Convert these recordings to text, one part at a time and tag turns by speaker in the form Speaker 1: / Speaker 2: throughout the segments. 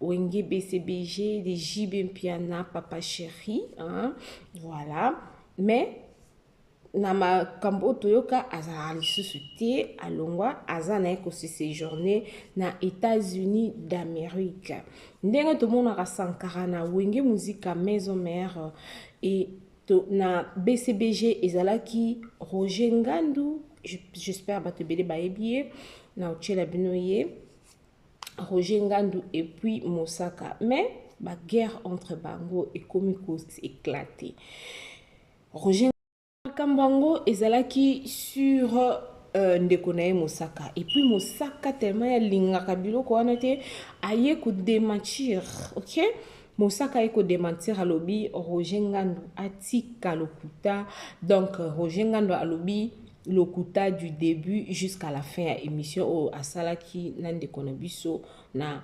Speaker 1: Wenge BCBG de JB Mpiana papa chéri hein? voilà mais na makambo oyo toyoka azalaka lisusu te alongwa aza na ye kosesejourne na états-unis d'amérique ndenge tomonaka sankara na wenge muzika maison mère e to, na bcbg ezalaki roger ngandu j'espère bato ebele bayebi ye na otyela bino ye Roger Ngandu et puis Mosaka mais ba guerre entre bango ekomi ko éclater Roger makambo yango ezalaki sur euh, ndeko na ye Mosaka et puis Mosaka tellement alingaka biloko wana te aye ko démentir OK Mosaka aye ko démentir alobi Roger Ngandu atika lokuta donc Roger Ngandu alobi lokuta du debut jusqu'à la fin ya emission oyo asalaki na ndeko na biso na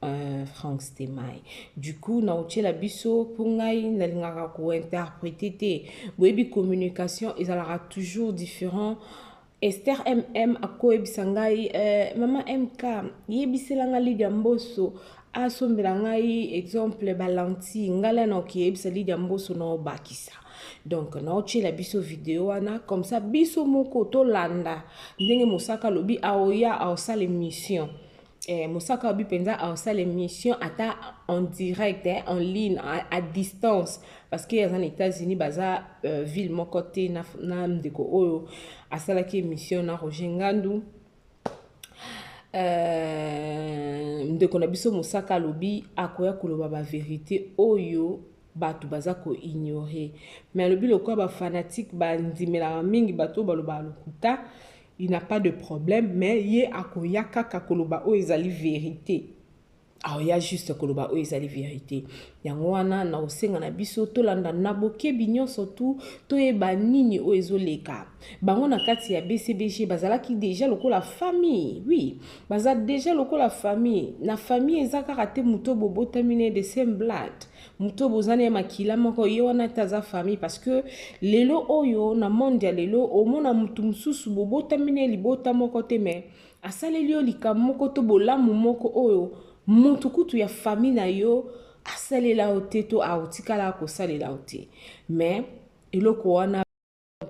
Speaker 1: euh, Frank Stemay. Du coup, na otiela biso mpo ngai nalingaka kointerprete te boyebi communication ezalaka toujours différent Esther MM akoyebisa ngai eh, mama MK yebisela nga Lydia Mboso asombela ngai exemple balanti ngala na okiyebisa lidia mboso na obakisa donc naotyela biso video wana comme ça biso moko tolanda ndenge mosaka alobi aoya aosala émission eh, mosaka abi mpenza aosala émission ata en direct eh, en ligne à, à distance parce que aza na états-unis baza euh, ville moko te na, na ndeko oyo asalaki émission na roger ngandu Euh, ndeko na biso mosaka alobi akoya koloba baverité oyo bato baza koignore mais alobi lokola bafanatike bandimelaka mingi bato oyo balobaka lokuta il n'a pas de problème mais ye akoya kaka koloba oyo ezali verité aoya juste koloba oyo ezali verite yango wana na kosenga na biso tolanda na bokebi nyonso tu toyeba nini oyo ezoleka bango na kati ya bcbg bazalaki deja lokola famille oui baza deja lokola famille na famille eza kaka te moto bobotami ne de same blood moto boza na makila moko ye wana te aza famille parce que lelo oyo na monde ya lelo omona moto mosusu bobotami ne libota moko te mais Asaleli yo likambo moko to bolamu moko oyo moto kutu ya famille na yo asalela yo te to aotikala kosalela yo te me eloko wana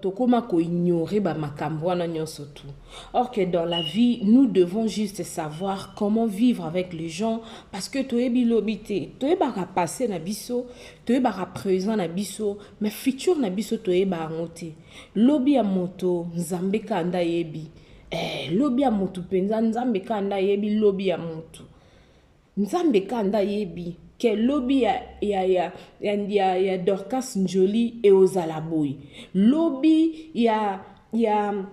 Speaker 1: tokoma koignore bamakambo wana nyonso tu or que dans la vie nous devons juste savoir comment vivre avec les gens parce que toyebi lobi te toyebaka passé na biso toyebaka présent na biso mais futur na biso toyeba yango te lobi ya moto nzambe kanda yebi Eh, lobi ya mutu penza nzambe kaka nda yebi lobi ya mutu nzambe kaka nda yebi ke lobi ya, ya, ya, ya, ya, ya dorcas njoli eozala boye lobi ya, ya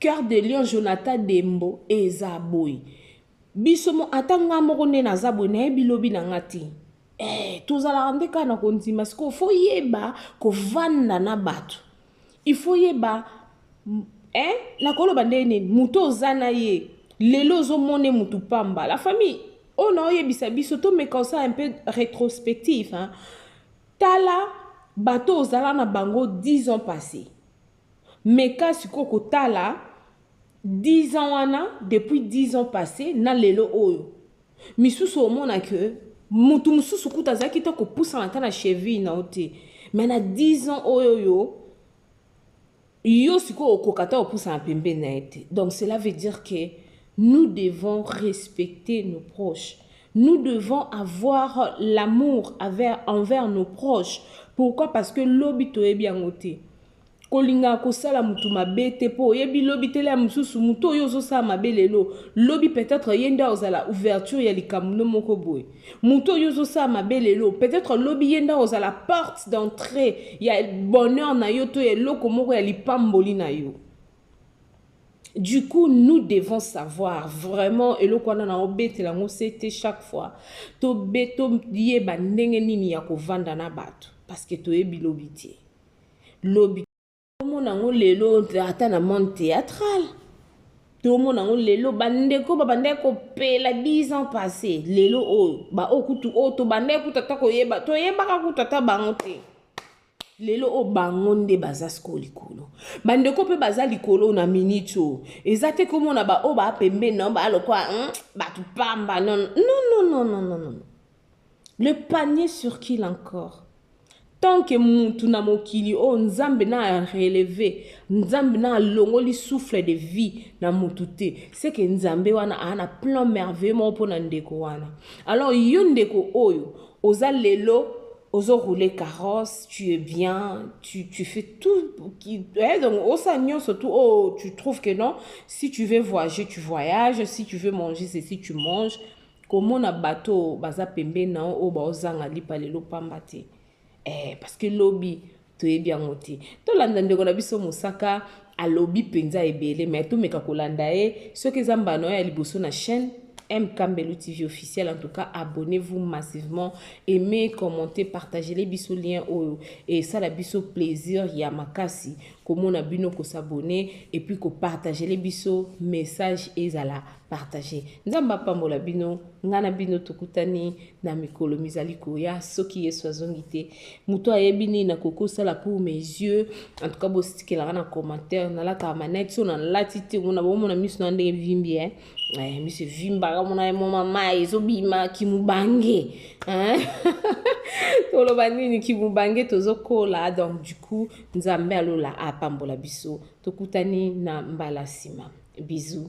Speaker 1: cœur de lion jonathan dembo eza boye biso mo ata nga moko nde naza boye nayebi lobi na nga te eh, tozalaka nde kaka na kondima sikoyo foyeba kovanda na bato Il faut yeba eh nako loba ndenge nini mutu oza na ye lelo ozo mona ye mutu pamba la famille oyo na oyebisa biso to meka osala un peu retrospectif hein tala bato ozala na bango 10 ans passé meka sikoyo kotala 10 ans wana depuis 10 ans passé na lelo oyo misusu omona que mutu mususu kutu azalaki ta kopusana ata na cheville na yo te mais na 10 ans oyo yo yo sikoyo okoka ata kopusana pembeni na ye te donc cela veut dire que nous devons respecter nos proches nous devons avoir l'amour envers nos proches pourquoi parce que lobi toyebi yango te Kolinga kosala mutu mabe te po oyebi lobi tele ya mususu mutu oyo ozo sala mabe lelo lobi peut-etre ye nde akozala ouverture ya likambu no moko boye mutu oyo ozo sala mabe lelo peut-etre lobi ye nde akozala porte d'entree ya bonheur na yo to ya eloko moko ya lipamboli na yo Du coup, nous devons savoir vraiment eloko wana na obetela yango sete chaque fois to beto yeba ndenge nini ya kovanda na bato parce que toyebi lobi te. lobi tomona yango lelo ata na monde théâtral tomona yango lelo bandeko babandaki kopela 10 ans passé lelo oyo baoyo kutu oyo tobandaki kutu ata koyeba toyebaka kutu ata bango te lelo oyo bango nde baza sikoyo likolo bandeko mpe baza likolo na miniti oyo eza te komona baoyo baa pembeni na yo baa lokola hmm, bato pamba non non non non non Le panier sur qui l'encore tant que mutu na mokili oyo nzambe na releve nzambe na alongoli souffle de vie na mutu te seke nzambe wana aa na plan merveilleux moko mpo na ndeko wana alors yo ndeko oyo oza lelo ozo roule carrosse tu es bien tu, tu fais tout qui, eh, donc osa nyonso tout oh, tu trouves que non si tu veux voyager tu voyages si tu veux manger ceci tu manges Komona bato oyo baza pembeni na yo oyo baozanga lipa lelo pamba te eh, parce que lobi toyebi yango te. Tolanda ndeko na biso Mosaka alobi mpenza ebele mais tomeka kolanda ye soki eza mbala na yo ya liboso na chaîne MK Mbelu TV officiel. En tout cas, abonnez-vous massivement, aimez, commentez, partagez les bisous liens oyo et ça la bisous plaisir ya makasi komona bino ko s'abonner et puis ko partager les bisous message ezala Partager. Nzambe apambola bino, nga na bino tokutani na mikolo mizali koya soki Yesu azongi te. Moto ayebi nini nakokosala pour mes yeux. En tout cas botikelaka na commentaire nalataka manette so nalati te omona bomona miso na ndenge vimbi eh. Eh, miso evimbaka omona ye moma mai ezobima kimubange eh? toloba nini kimubange tozokola donc du coup nzambe alola apambola biso tokutani na mbala nsima bisous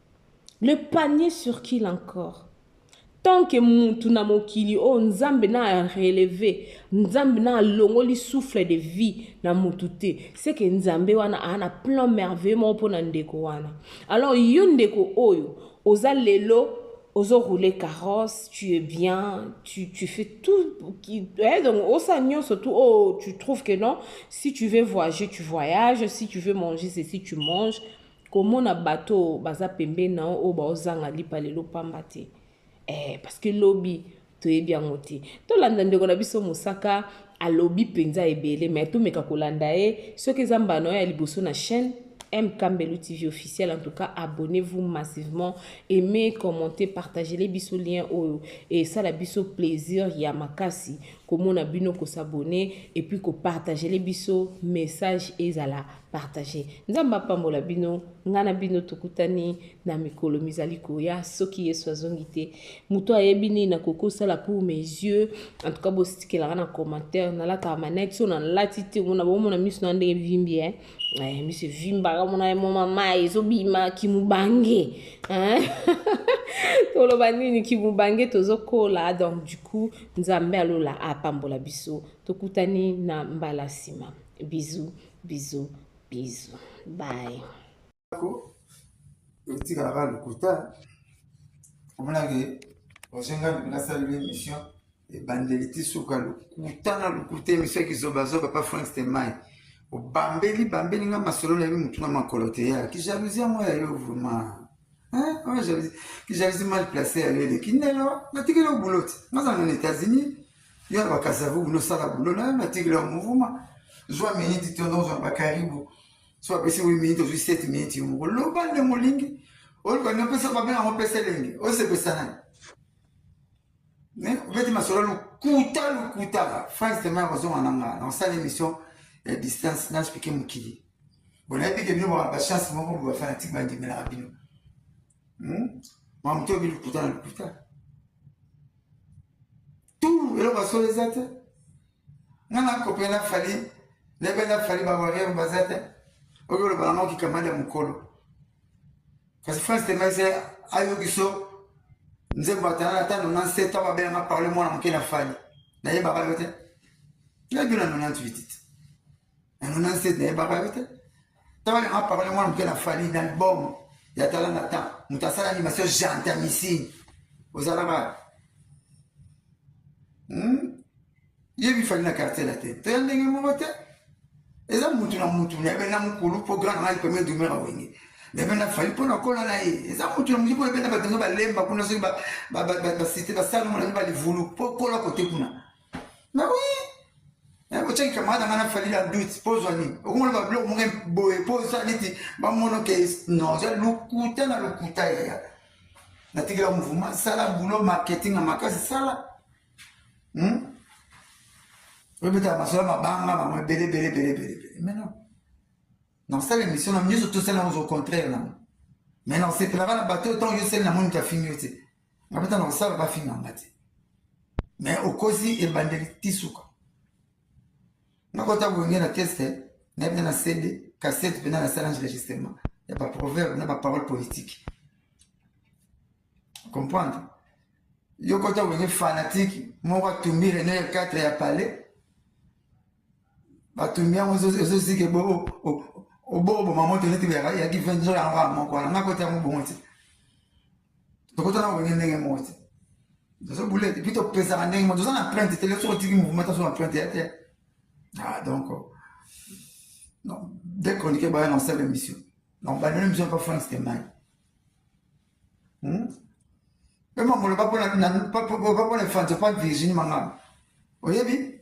Speaker 1: Le panier sur qu'il encore tant que mutu na mokili oyo oh, nzambe na releve nzambe na alongoli souffle de vie na mutu te seke nzambe wana aa na plan merveilleux moko mpo na ndeko wana alors yo ndeko oyo oza lelo ozo rouler carrosse tu es bien tu, tu fais tout qui, eh, donc osa nyonso tout oh, tu trouves que non si tu veux voyager tu voyages si tu veux manger ceci tu manges Komona bato oyo baza pembeni na yo oyo baozanga lipa lelo pamba te eh, parce que lobi toyebi yango te. Tolanda ndeko na biso Mosaka alobi mpenza ebele mais tomeka kolanda ye soki eza mbala na yo ya liboso na chaîne MK Mbelu TV officiel. En tout cas, abonnez-vous massivement, aimez, commentez, partagez les bisous liens oyo et ça la bisous plaisir ya makasi komona bino ko s'abonner et puis ko partager les bisous message ezala Partager. Nzambe apambola bino, nga na bino tokutani na mikolo mizali koya soki Yesu azongi te. Moto ayebi nini nakoki kosala pour mes yeux. En tout cas bostikelaka na commentaire nalataka manette so nalati te omona bomona miso na ndenge vimbi hein. Eh, miso evimbaka omona ye moma mai ezobima kimubange hein? toloba nini kimubange tozokola donc du coup nzambe alola apambola biso tokutani na mbala nsima bisous Bisous, bisous.
Speaker 2: Bye. Etika naka lokuta omonaki osenga nasali l'émission ebandeli ti suka lokuta na lokuta emission ya kizobazoba pa frank stemai obambeli bambeli nga masolo nayebi motu na makolo te ya kijalousi yango ya yo vraiment kijalousi mal place ya yo eleki ndelo natikeli yo boulot nazala na états-unis Yo na bakasavu bino sala bulo na natikela yo mouvuma zwa miniti to nozwa bakaribu so apesi wi miniti ozwi 7 miniti yo moko loba nde molingi oloba nde opesa mabe yango opesa elenge osepesa nani obeti masolo lokuta lokuta france tema yakozonga na ngaa nakosala émission ya distance naspike mokili bonayebi ke bino bachance moko bobafanatique bandimelaka bino Hmm? mamu to bili kuta na lokuta tu eloko asolo eza te nga nakope na fali nebe na fali bawariere baza te oyo oloba na mao kikamada mokolo kasi france temayisa ayokiso nzembo atana ata 97 to babenganga parle mwana moke na fali nayebaka yo te nayebi na 98 te na 97 nayebaka yo te ntango nanga parole mwana moke na fali na album ya tala na temps moto asala animation gentamicine ozalaka hmm? yebi fali na quartier la te toya ndenge moko te eza mutu na mutu nayebi na mokulu mpo grand nanga premier dumera wenge nayebi na fali mpo nakola na ye eza mutu na mutu mpo nayebi na bato yango balemba kuna soki basite basala monange balivulu mpo kola kote kuna na oui na ko cheki kamada ngana fali la doute pose ni okumona ba blog munge boye pose ça niti ba mono ke non je lukuta na lukuta ya ya na tikela mouvement sala boulot marketing makasi sala hmm obeta masala mabanga bango ebele ebele ebele ebele ebele mais non nasala émission na nyonso tosala yango au contraire nango mais na osepelaka na bato oyo ntango yo seli na moni moto afingi yo te nga mpe ntango nakosala bafinga nga te me okosi ebandeli ti suka nakota boye nge na teste naye mpe na cd cassette mpe na na salange registrement ya baproverbe na baparole politique comprendre yo kota boye nge fanatique moko atumbi rene ya 4 ya palais batumbi yango ezozike oboboma moto neti yaki venzo yango ya moko wana nako te yango bongo te tokota na kolingi ndenge moko te tozo bule epi topesaka ndenge moko toza na printe te soki otiki mouvement taso na printe ya te ah donc non dès chroniqueur baya na osala émission donc bandona émission pa france temai hmm? mpe mamolo bapona efranco pa virginie mangana oyebi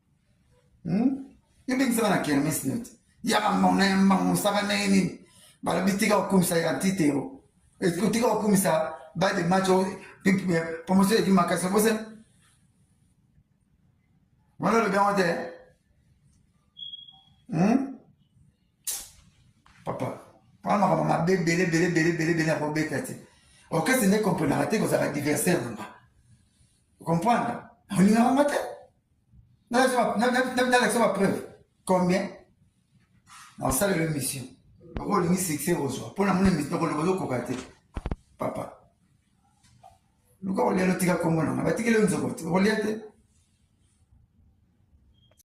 Speaker 2: hmm? yo bengisaka na kermes neti yaka mbango na ye mbango mosaka na ye nini balobi tika kokumisa ya ntite yo tika kokumisa ba de match promotion eleki makasi obose wana olobi yango te hmm? papa wana makambo mabe bele bele bele bele bele akobeta te orchestre nde comprenaka te kozalaka diversaire nanga comprendre olingaka nga te nalakisa bapreuve combien naosalela émission oko olingi succès ozwa mpo namoni émission okoloba ozokoka te papa luka kolia lotika nkombo nanga batikeli yo nzoko te okolia te